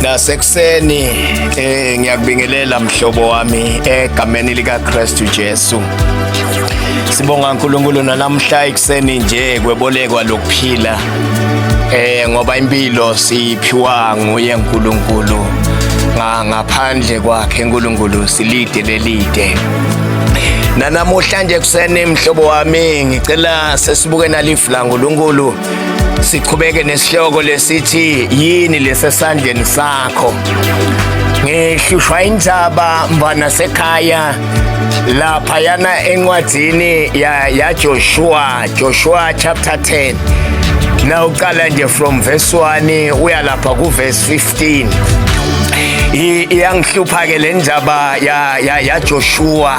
nasekuseni eh ngiyakubingelela mhlobo wami egameni lika Christu Jesu Sibonga uNkulunkulu nanamhla ikuseni nje kwebolekwa lokuphila eh ngoba impilo siphiwa nguye uNkulunkulu ngaphandle kwakhe uNkulunkulu silide lelide nanamuhla nje kuseni mhlobo wami ngicela sesibuke nalifu la uNkulunkulu siqhubeke nesihloko lesithi yini lesesandleni sakho ngihlushwa injaba mfana sekhaya lapha yana encwadzini ya, ya Joshua Joshua chapter 10 na uqala nje from verse 1 uya lapha ku verse 15 iyangihlupha ke le ndaba ya, ya, ya Joshua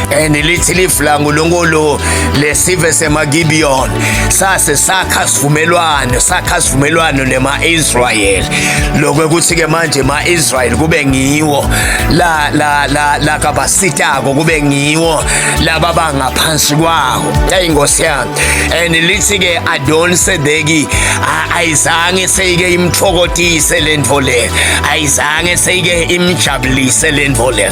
and lithi lifla uNkulunkulu lesive semaGibeon sase sakha sivumelwano sakha sivumelwano nemaIsrael lokho ukuthi ke manje emaIsrael kube ngiwo la la la la kabasitako kube ngiwo laba bangaphansi kwawo hey inkosi yami and lithi ke Adon Sedeki ayizange seyike imthokotise lento le ayizange seyike imjabulise lento le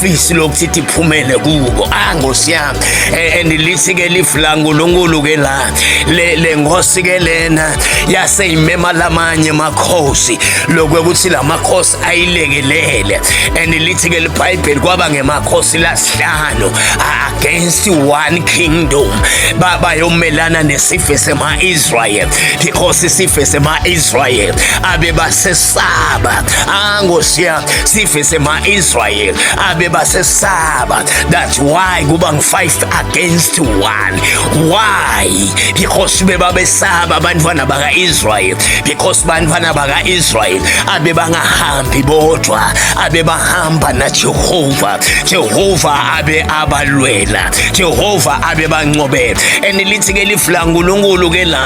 fisi lokuthi iphumele kubo ah ngosi yami eh, and lithi ke lifu la nkulunkulu ke la le le ngosi ke lena yase imema lamanye makhosi lokwe ukuthi lamakhosi ayilekelele and lithi ke libhayibheli kwaba ngemakhosi lasihlanu against one kingdom baba yomelana nesife sema Israel because isife sema Israel abe basesaba ah ngosi yami sife sema-israyeli abebasesaba that's why kuba ngu-five against one why because bebabesaba abantwana baka-israyeli because bantwana baka-israyeli abebangahambi bodwa abebahamba najehova jehova abe abalwela jehova abebancobela and lithi-ke lifu lankulunkulu ke la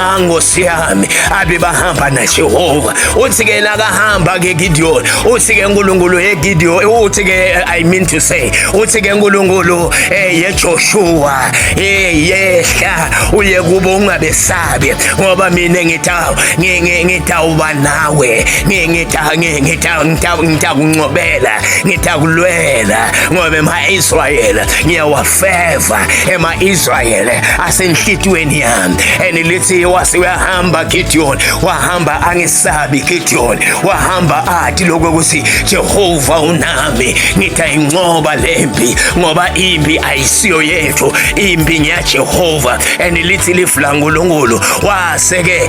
Ah, nkosi yami abe bahamba najehova uthi-ke nakahamba-ke gidiyoni uthi-ke nkulunkulu yegidiyoni uthi-ke i mean to say uthi-ke nkulunkulu eh, yejoshuwa eh, yehla uye kubo ungabesabi ngoba mina ngitawuba nawe ngitakuncobela ngitakulwela ngoba ema-israyela ngiyawa feva ema-israyeli asenhlitiyweni yami and lithi wase uyahamba gidiyoni wahamba angesabi gidiyoni wahamba athi lokho ukuthi jehova unami ngithi ayincoba le mpi ngoba impi ayisiyo yethu impi ngeyajehova and lithi livulangulungulu wase-ke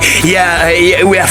uyafika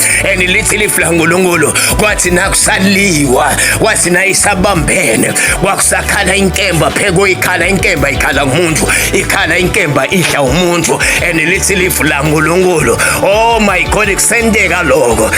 and lithi lifla ngulungulu kwathi nakusaliwa wathi nayisabambene kwakusakhala inkemba pheko ikhala inkemba ikhala ngumuntu ikhala inkemba idla umuntu and lithi lifla ngulungulu oh my god kusenteka lokho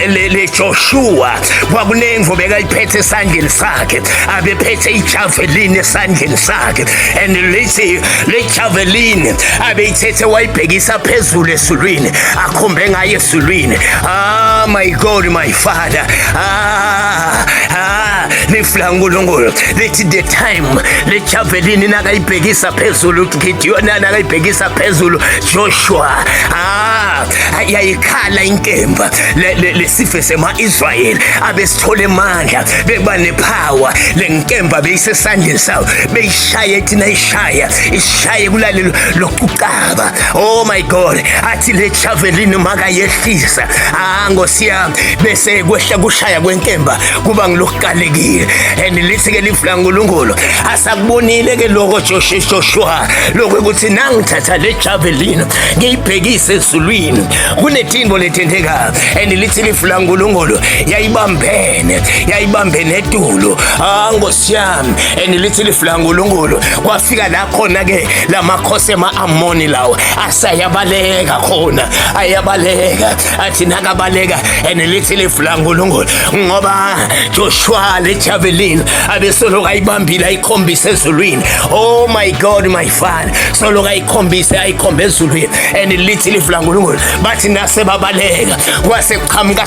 le Joshua kwakunemvu bekaliphethe esandleni sakhe abephethe ijavelini esandleni sakhe and lithi le Javelin abeyithethe wayibhekisa phezulu esulwini akhombe ngaye esulwini ah my god my father ah ah lifla uNkulunkulu lithi the time le javelin nakayibhekisa phezulu Gideon nakayibhekisa phezulu Joshua ah yayikhala inkemba lesife sema-Israyeli abesithole emandla bekuba nepower le nkemba beyisesandleni sawo ishaye thina ishaya ishaye kulalelo lokucaba oh my god athi le javelin makayehlisa ah ngosiyami bese kwehla kushaya kwenkemba kuba ngilokuqalekile and lithi ke livula uNkulunkulu asakubonile ke lokho Joshua Joshua lokho ukuthi nangithatha le javelin ngiyibhekise ezulwini kunethimbo lethenteka and lithi livula uNkulunkulu yayibambene yayibambene etulo ah Jam and lithi liflangulungulu kwafika la khona ke lamakhosi ema-amoni lawo asayabaleka khona ayabaleka athi nakabaleka and lithi liflangulungulu ngoba joshua lejavelin abesoloku ayibambile ayikhombise ezulwini oh my god my father soloku ayikhombise ayikhombe ezulwini and lithi liflangulungulu bathi nasebabaleka kwase kuqhamuka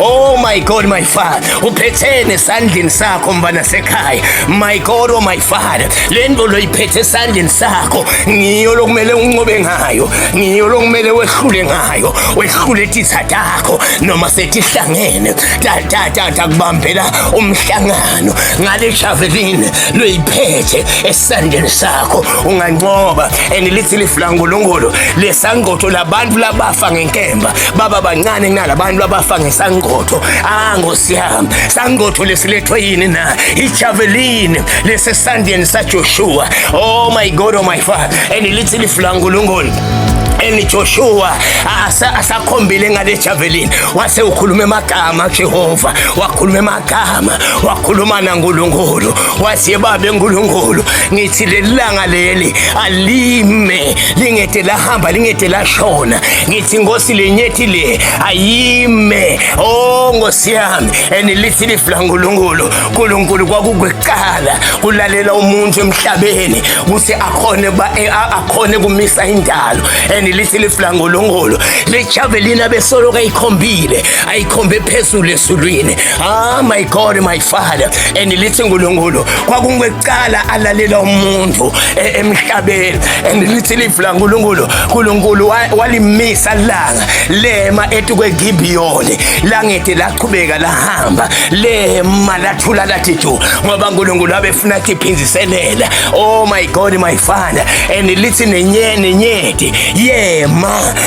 Oh my God my father uphethene esandleni sakho mfana sekhaya my God oh my father le nto loyiphethe esandleni sakho ngiyo lokumele uncobe ngayo ngiyo lokumele wehlule ngayo wehlule titha takho noma setihlangene tatatata kubambela umhlangano ngale javelin loyiphethe esandleni sakho ungancoba and lithi lifulangulungulu lesangqotho labantu labafa ngenkemba baba bancane kunalabantu abafa ngesangotho ah nkosi yami sangotho lesilethwe yini na ijavelini lesesandleni sajoshua oh my god oh my father and lithi lifu lankulunkulu and Joshua asakhombile ngale javelin wase ukhuluma emagama Jehova wakhuluma emagama wakhuluma naNkulunkulu wathi babe nkulunkulu ngithi lelanga leli alime lingede lahamba lingede lashona ngithi ngosi lenyethi le ayime o oh, ngosi yami and lithi liflangulungulu nkulunkulu kwakukuqala kulalela umuntu emhlabeni ukuthi akhone e, akhone kumisa indalo and lithi liflangulungulu lejavelina besoloka ayikhombile ayikhombe phezulu esulwini Ah my God my father and lithi uNkulunkulu kwakungeqala alalela umuntu e, emhlabeni and lithi livula uNkulunkulu uNkulunkulu walimisa langa lema ethi kweGibiyoni langethi laqhubeka lahamba lema lathula lathi ju ngoba uNkulunkulu abefuna kiphinziselela oh my God my father and lithi nenye nenyethi yema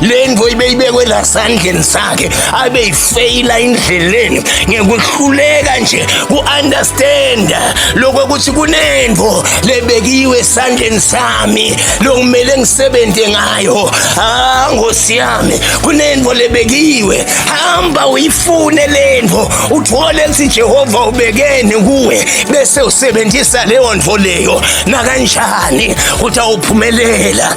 le nto ibeyibekwe lasandleni sakhe abeyifeyila indleleni ngekuhluleka nje ku-understanda lokho ukuthi kunento lebekiwe esandleni sami lokumele ngisebenze ngayo ha ngosi yami kunento lebekiwe hamba uyifune le nto uthole ukuthi jehova ubekeni kuwe bese usebenzisa leyo nto leyo nakanjani ukuthi awuphumelela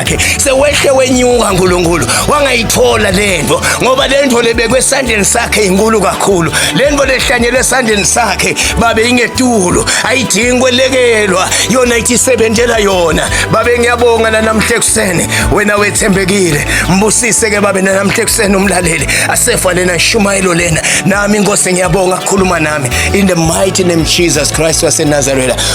yakhe sewehle wenyuka nkulunkulu wangayithola lento ngoba lento lebekwe esandleni sakhe inkulu kakhulu lento lehlanyelwe esandleni sakhe babe ingetulo ayidingi kwelekelwa yona ithisebenzela yona babe ngiyabonga nanamhle kusene wena wethembekile mbusise ke babe nanamhle kusene umlaleli asefa lena shumayelo lena nami inkosi ngiyabonga khuluma nami in the mighty name Jesus Christ waseNazareth